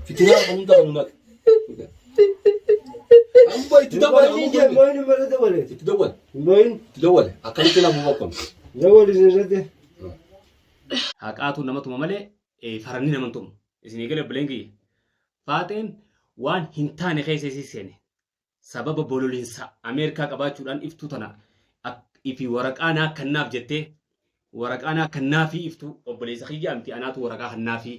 Fitinaa kan hunda kan hunaka. Amma itti dabala Moin kan je, moin mana tu boleh. Itti dabala. Moin, Itti dabala. Akkamitti nama bakkoon. jauh di sana tu. Haqaatu nama tuma malee eh, faranni nama hin tumu. Isin eegale buleen kiyya. Faaxeen waan hin taane keessa isii seene. Sababa bololinsa Ameerikaa qabaachuudhaan iftuu tana ak- ifi waraqaa naa kannaaf jettee waraqaa naa kannaafii iftuu obboleessa kiyyaa miti anaatu waraqaa kannaafii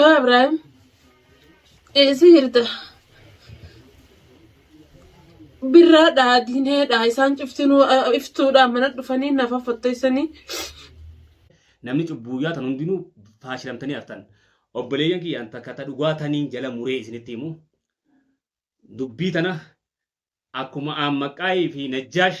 Yaa Ibraahim, eessi jirta? Birraadhaa, diineedhaa, isaan cuftinuu eh, iftuudhaa mana dhufanii nafa fotteessanii. namni cubbuu yaatan hundinuu faashilamtanii haftan. Obboleeyyan kiyya an takka ta dhugaa taniin jala muree isinitti himu. Dubbii tana akkuma aan maqaayii fi najjaash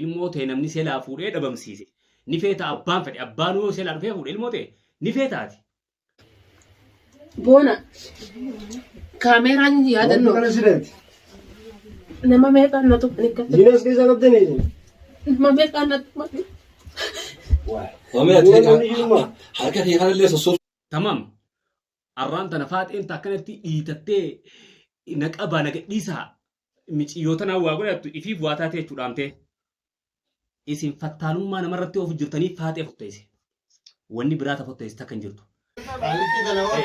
Ilmoo tee namni selaa fuudhee dhabamsiise ni feeta abbaan fedhe abbaanuu yoo selaa dhufee fuudhe ilmoo tee ni feeta ati. Boona kaameeraa jechuun yaadannoo President, nama meeqaan na tuqni gatte Genius keessa qabdanii isin. nama meeqaan na tuqni Wamee ati Waan namni jirummaa. harka kee kanallee sossob Tamam. Arraan tana faaxeen ta akkanatti dhiitattee na qabaa na gadhiisaa miciyyoo tanaan waa godhattu ifiif waa taatee jechuu dhaamtee. Isin fattaalummaa namarratti oofu jirtanii faaxee fotteesse. Wanni biraa ta fotteesse takka hin jirtu. Qaallitti tana hoo.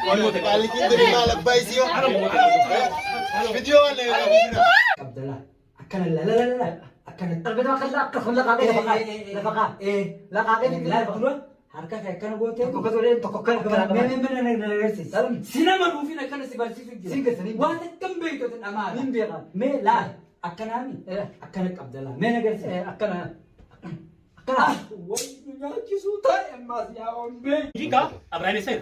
Qaallitti qaallitti tana maal abbaa isii hoo. Bidiyoo waan na irraa bira. Abdallah. akkana la la la la la akkana Argataa kan akka kun laqaa kee lafa kaa lafa kaa ee laqaa kee ni laal dura harka kee akkana gootee tokko kan olee tokko kan akka laqaa mee mee mee na na agarsiis salum si nama nuufin akkana si barsiisu jira Siin keessan hin waan akkam beektu isin dhamaara hin beeka mee laal akkanaami Eh. akkana qabda laal mee na agarsiis Eh, akkana akkana wayyu nyaachisuu taa'e ammaas yaa ombee Jika Abraham Isena,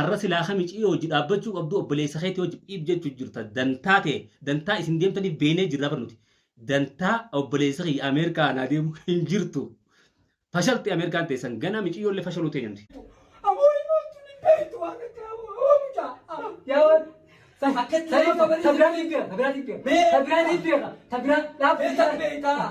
Arra silaa ka miciyoo wajji dhaabbachuu qabduu obboleessa keetii wajji phiip jechu jirta dantaa tee dantaa isin deemtaniif beenee jirraa bar nuti dantaa obboleessa kiyya Ameerikaa anaa deemu hin jirtu fashalti Ameerikaan teessan ganaa miciyoo illee fashaluu teenya nuti. Aboo himoottu ni beektu waan akka aboo aboo mucaa. Ah, Yaa waan. Sa- Akkatti sa- nama sa- bareedu. sa biraa dhiibbeera, sa biraa dhiibbeera. Mee- Sa biraa dhiibbeera. Sa biraa dhaabbii Mee sa isaa- beektaa?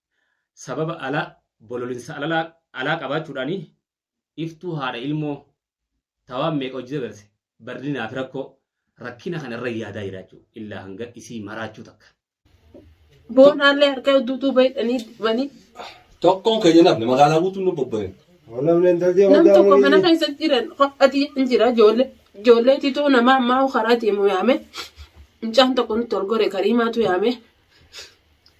sababa ala bololinsa alalaa alaa qabaachuudhaan iftuu haadha ilmoo ta waan meeqa hojii dabarse barlinaa fi rakkoo rakkina kana irra yaadaa jiraachuu illaa hanga isii maraachuu takka. Boonaallee harka hedduu duuba hidhanii dibanii Tokkoon keenya nafne magaalaa guutuun nu bobba'e. Namni intalti nam hojjaa tokko mana keessa jiran qophati hin jira ijoollee ijoollee titoo nama ammaa karaa deemu yaame mucaan tokko nutti ol gore kariimaatu yaame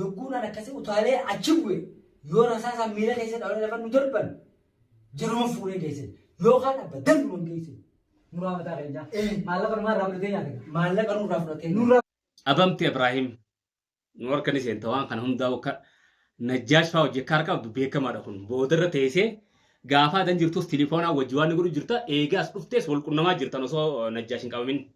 Yogguun an akkasii utaalee achi bu'e yoo rasaasaan miila keessa dhawanii lafa nu darban jaruma fuunee geessan yookaan abba danduman geessan. Muraa mataa keenyaa. Maallaqa numaa irraa fudhatee nyaate. Maallaqa nurraa fudhatee nurraa. Abamti Ibrahim nu harka ni seenta waan kana hundaa akka najjaash fa'aa hojii akka harka qabdu beekamaadha kun boodarra teessee gaafa adan jirtus tilifoonaa wajji waan ni godhu jirta eegaa as dhuftees wal qunnamaa jirtan osoo najjaash hin qabamin.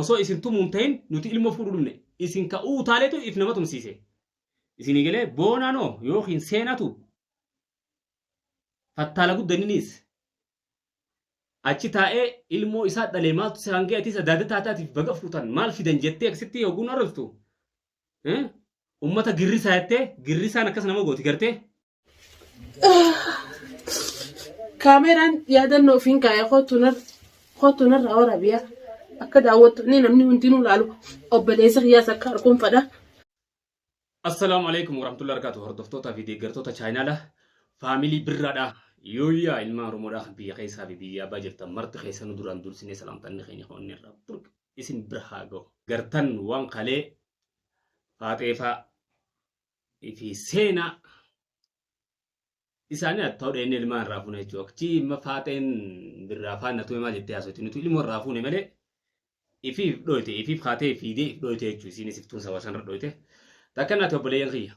Osoo isin tumuu hin ta'in nuti ilmoo fuudhuu dhumne. Isin ka uutaaleetu if nama tumsiise. Isinii galee boonaanoo yookiin seenatu fattaala guddaninis achi taa'ee ilmoo isaa dhalee maaltu si hangee atiis adaada taataatiif baga fuutan maal fidan jettee akkasitti hoguun arrabstu. Ummata girrisaa jettee girrisaan akkas nama gooti gartee. Kaameraan yaadannoo ofiin kaaya kootu narraa waraabiyaa akka daawwattoonni namni hundinuu laalu obboleessa kiyyaas akka arkuun fadha. Assalaamu alaikum warahmatullahi wabarakatuh hordoftootaa fi deeggartoota chaayinaala faamilii birraadha yooyyaa ilmaan oromoodha biyya keessaa fi biyya abbaa jirtan marti keessa nu duraan dursinee salaamtanni keenya hoonni irraa burq isin bira haa gahu gartan waan kalee faaxeefaa fi seenaa isaanii haa ta'u dheenyee ilmaan irraa fuune jechuudha. Akkasii imma faaxeen birraa faana tume maal jettee haasofti nuti ilmoo irraa fuune malee ifiif dhooyte ifiif kaatee fiidee if dhooyte jechuudha isiinis iftuun saba sanarra dhooyte. Takka naati obboleeyyan kiyya.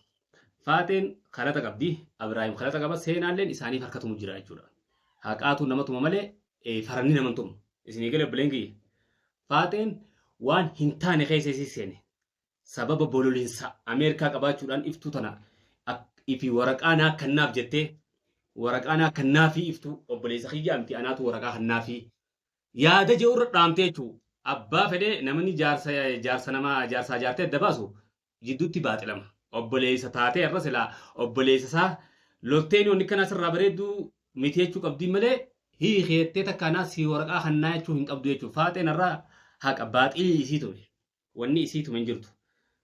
Faaxeen kalata qabdi Abiraayim kalata qaba seenaalleen isaaniif harkatumu jira jechuudha. Haqaatu nama tuma malee eh, faranni nama hin tumu. Isinii galee obboleeyyan kiyya. Faaxeen waan hin taane keessa isii seene. sababa bololinsa Ameerikaa qabaachuudhaan iftuu tana ak- ifi waraqaa naa kannaaf jettee waraqaa naa kannaafii iftuu obboleessa kiyyaa miti anaatu waraqaa kannaafii yaada jedhu irra dhaamtee jechuu abbaa fedhee namni jaarsa jaarsa namaa jaarsaa jaartee adda baasu jidduutti baaxilama obboleessa taatee irra silaa obboleessa isaa lolteen wanni kanaa sirraa bareedduu miti jechuu qabdiin malee hiikeettee takkaanaa si waraqaa kannaa jechuu hin qabdu jechuu faaxeen irraa haqa baaxilii isii ture Wanni isii tume hin jirtu.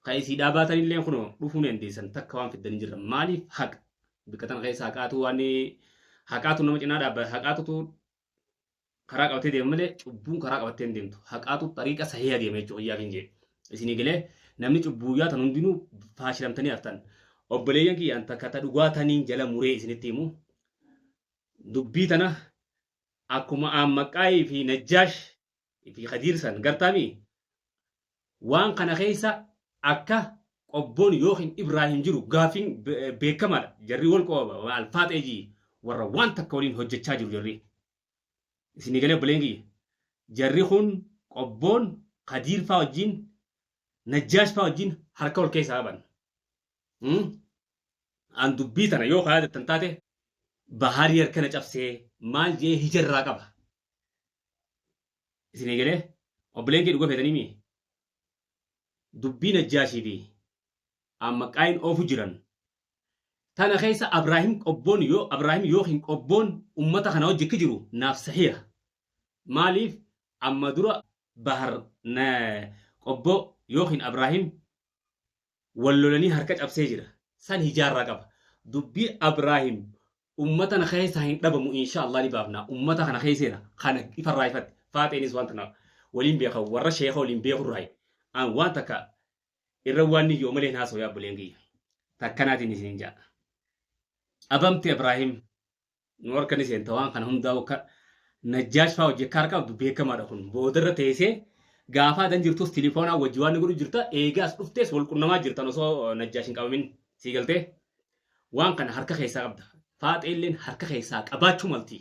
Ka isiidhaa baatanilleen kunoo dhufuu ni dandeessan takka waan fiddan hin jirran. Maaliif haqa? Bikka tana keessa haqaatu waan haqaatu nama cinaa dhaabbata. Haqaatutu karaa qabatee deema malee cubbuun karaa qabattee hin deemtu. Haqaatu xariiqa sahiha deema jechuudha iyyaa kiin jee. Isinii galee namni cubbuu iyyaa tan hundinuu faashilamtanii haftan. Obboleeyyan kiyya an takka ta dhugaa taniin jala muree isinitti himu. Dubbii tana akkuma aan maqaayii fi najjaash fi kadiir san gartaami waan kana keessa akka qobboon yookiin ibraahim jiru gaafiin beekamaadha jarri wal qobaba maal faaxee jii warra waan takka waliin hojjechaa jiru jarri isin egalee obboleen kiyya jarri kun qobboon kadiir faa wajjiin najjaash faa wajjiin harka wal keessaa qaban an dubbii tana yoo kaayaatattan taate bahaarii harkana cabsee maal jee hijarraa qaba isinii galee obboleen kee dhuga feetanii mii dubbii najjaashii fi amma qaayin oofu jiran tana keessa abraahim qobboon yoo abraahim yookiin qobboon ummata kana wajji akka jiru naaf sahiha maaliif amma dura bahar na qobboo yookiin abraahim wal lolanii harka cabsee jira san hijaarraa qaba dubbii abraahim ummata na keessaa hin dhabamu insha allah ni baafna ummata kana keesseena kana ifarraa ifatti faaxeenis waan tana waliin beeka warra sheeka waliin beekurraayi an waan takka irra waan ni yoo malee hin haasoo yaa buleen kiyya takkanaatiin isin ja'a abamti abraahim nu harka ni seenta waan kana hundaa'u akka najjaash fa'aa hojii akka harka qabdu beekamaadha kun boodarra teessee gaafaa dan jirtus tilifoonaa wajji waan ni godhu jirta eegaas dhuftees wal qunnamaa jirtan osoo najjaash hin qabamin sii galtee waan kana harka keessaa qabda faaxeelleen harka keessaa qabaachuu malti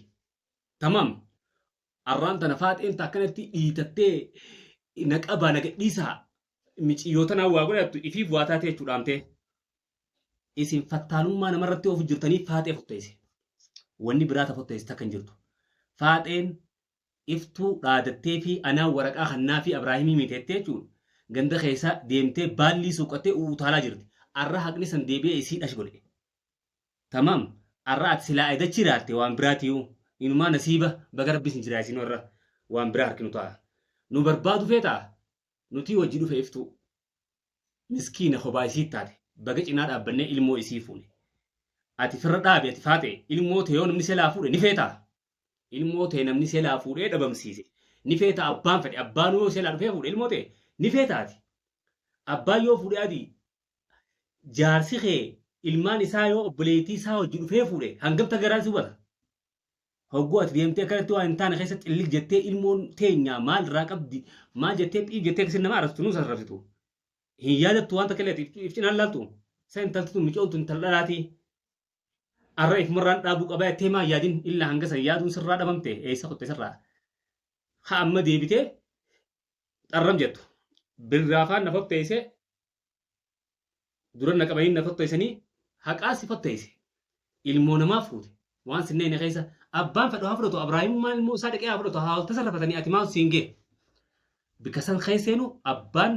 tamam arraan tana faaxeen ta akkanatti dhiitattee na qabaa na gadhiisaa miciyyoo tanaa waa godhattu ifiif waa taatee jechuu dhaamtee. Isin fattaalummaa namarratti oofu jirtanii faaxee fotteesse. Wanni biraa ta fotteesse takka hin jirtu. Faaxeen iftuu dhaadattee fi anaa waraqaa hannaa fi Abraahimii miteettee jechuun ganda keessa deemtee baallii suuqattee utaalaa jirti. Arra haqni san deebi'ee isii dhash godhe. Tamam arra ati silaa aydachi iraatte waan biraatiyuu inumaa nasiiba baga rabbi isin jiraasinuu arra waan biraa harkinu ta'a. Nu barbaadu feetaa? nutii wajji dhufe iftuu miskiina hobaa isii taate baga cinaa dhaabbannee ilmoo isii fuune ati firra dhaabi ati faaxee ilmoo tee yoo namni selaa fuudhe ni feetaa ilmoo tee namni selaa fuudhee dhabamsiise ni feetaa abbaan fedhe abbaan yoo selaa dhufee fuudhe ilmoo tee ni feetaa ati abbaan yoo fuudhe ati jaarsi kee ilmaan isaa yoo obboleettii isaa wajji dhufee fuudhe hangamta garaan si hubata Hogguu ati deemtee akkanatti waan hin taane keessa xillig jettee ilmoon teenyaa maal irraa qabdi maal jettee xiib jettee akkasiin nama arrabsitu nuus arrabsitu. Hin yaadattu waan takka illee ati if cinaan laaltu. Sa intalti tun micoon tun intala dhalaati. Arra if marraan dhaabuu qaba jettee maa yaadin illa hanga san yaaduun sirraa dhabamte eessa kutte sirraa. Ha amma deebitee xarram jettu. Birraa faan na fotteessee Dura na qabanii na tottoysanii haqaa si tottoyse. Ilmoo namaa fuute. Waan sin neeyne keessa abbaan fedhu haa fudhatu Abraahimummaan ilmoo isaa dhaqee haa fudhatu hawalta san rafatanii ati maal siin gee. Bika san keesseenu abbaan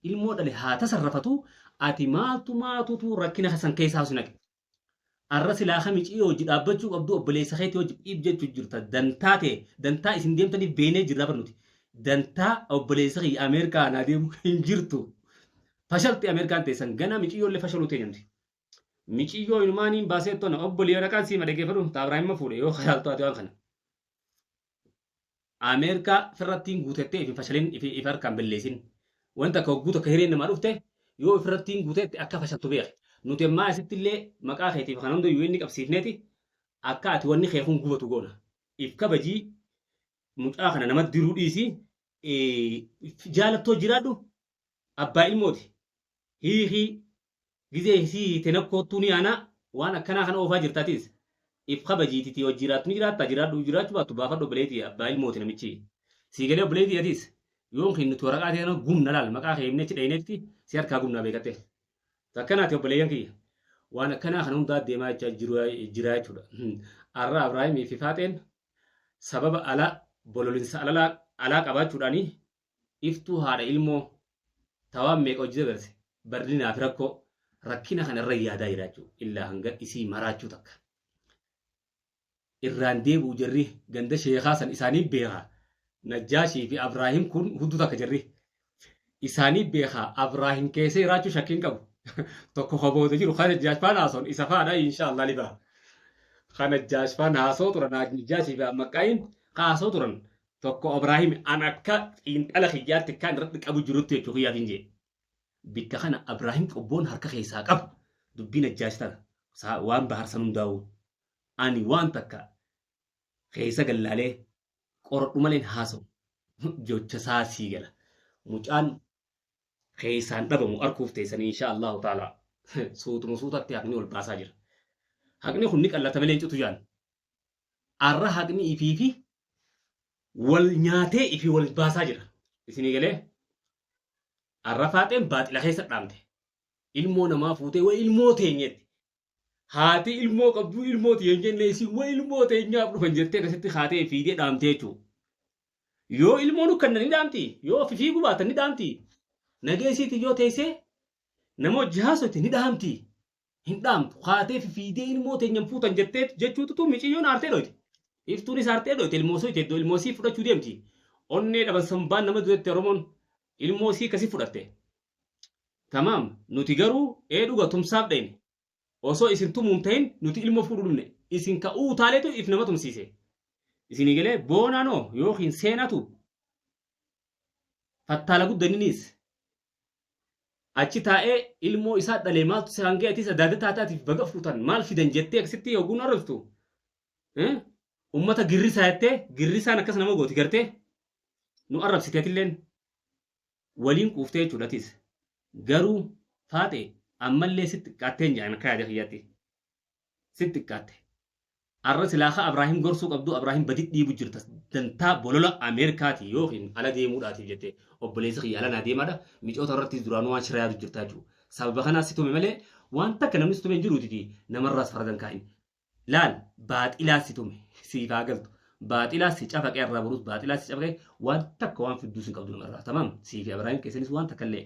ilmoo dhale haa tasarrafatu ati maaltu maatutu rakkina san keessaa si naqe. Arra silaa ka miciyo wajji dhaabbachu qabdu obboleessa keeti wajji dhiib jechu jirta dantaa tee dantaa isin deemtaniif beeynee jirra bar nuti dantaa obboleessa kiyya Ameerikaa anaa deemu hin jirtu fashalti Ameerikaan teessan ganaa miciyyoollee fashaluu teenya nuti miciyyoo inumaa niin baasee tona obboleeyyan aqaan siima dhageeffadhu taabraa himma fuudhe yoo halaaltu ati waan kana Ameerkaa firrattiin guutettee ifi fashalin ifi ifi harkaan belleesin. Wanti akka hogguu takka hireen namaa dhufte yoo ifirrattiin guutetti akka fashaltu beeki. Nuti ammaa asitti illee maqaa keetiif kana hunda UN qabsiifneeti akka ati wanni kee kun gubatu goona. If kabajii mucaa kana namatti diruu dhiisi. Ee, jaalattoo jiraadhu Abbaa ilmooti. Hiikii. Gizee isii hiite na koottuu ni aanaa waan akkanaa kana oofaa jirta atis. If kabajii titi yoo jiraattu ni jiraatta jiraadhu jiraachuu baattu baafadhu obboleeyti tiyya abbaa ilmooti namichi. Sii galee obboleeyti tiyya atis yoon kee nutti waraqaa tee kana gubna laal maqaa kee himnee achi dhaynee achitti si harkaa gubnaa beekattee. Takkanaa ti obboleeyyan kiyya. Waan akkanaa kana hundaa deemaa jechaa jiruu jiraa jechuudha. Arraa Abraahimii fi Faaxeen sababa alaa bololinsa alalaa alaa qabaachuudhaanii Iftuu haadha ilmoo ta waan meeqa hojji dabarse barlinaa fi rakkoo rakkina kana irra yaadaa jiraachuu illaa hanga isii maraachuu takka. Irraan deebi'u jarri ganda sheekaa san isaanii beeka. Najjaashii fi Abraahim kun hudduu takka jarri. Isaanii beeka Abraahim keessa jiraachuu shakkiin qabu. Tokko ka booda jiru ka Najjaash faan haasoon isa faadha inshaa Allah ni baha. Ka Najjaash faan haasoo turan Najjaashii fi Ammaqqaayin ka haasoo turan Tokko Abraahim an akka xiinxala kiyyaatti kan irratti qabu jirutti jechuu kiyyaaf hin jee. Bikka kana Abraahim qobboon harka keessaa qabu dubbiin ajjaash tana saa- waan bahar san hundaa'uu. Ani waan takka keessa gallaalee qoradhu maleen haasa'u. Jecha isaa sii gala. Mucaan keessaan dhabamu arkuuf teessanii insha Allahu taala suutuma suutatti haqni wal baasaa jira. Haqni kun ni qallata malee hin citu jaan. arra haqni ifiifi wal nyaatee ifi wal baasaa jira isinii galee arra faaxeen baaxila keessa dhaamte ilmoo namaa fuutee wa ilmoo teenyeetti haati ilmoo qabduu ilmoo tiyeen jennee isin wa ilmoo teenyaaf dhufan jettee akkasitti haatee fiidee dhaamtee jechuudha. yoo ilmoo nu kennan ni dhaamti yoo ofi fiiguu baatan ni dhaamti nageessiitiif yoo teessee nama hojii haasofte ni dhaamti hin dhaamtu kaatee fi fiidee ilmoo teenyan fuutan jettee jechuutu tun miciyyoon aartee dhoyte iftuunis aartee dhoyte ilmoo soo jedhu ilmoo sii fudhachuu deemti onnee dhaban sambaan nama dutetti oromoon ilmoo sii kasi fudhatte tamaam nuti garuu ee dhuga tumsaaf dhayne osoo isin tumuun tahin nuti ilmoo fuudhu dhumne isin ka uu taaleetu if nama tumsiise isinii galee boonaanoo yookiin seenatu fattaala guddaninis achi taa'ee ilmoo isaa dhalee maaltu si hangee atis adaada taataatiif baga fuutan maal fidan jettee akkasitti oguu narraftu Eh? ummata girrisaa jettee girrisaan akkas nama gooti gartee nu arrabsiteetilleen waliin quuftee jechuudha atis garuu faaxe ammallee si xiqqaattee hin jedhan akka yaada kiyyaatti Sit xiqqaatte. Arra silaa ka Abraahim gorsuu qabdu Abraahim badit dhiibu jirta dantaa bolola Ameerikaati yookiin ala deemuudhaatiif jette obboleessi kiyya ala naa deemaadha micoota irrattis duraanuu waan shira yaadu jirta jechuu sababa kanaas si tume malee waan takka namni si tume hin jiruutiti namarraas faradan kaa'in laal baaxilaas si tume siif haa galtu baaxilaas si cafaqee arraa boruus baaxilaas si cafaqee waan takka waan fidduus hin qabdu namarraa tamaam siifi Abraahim keessanis waan takka illee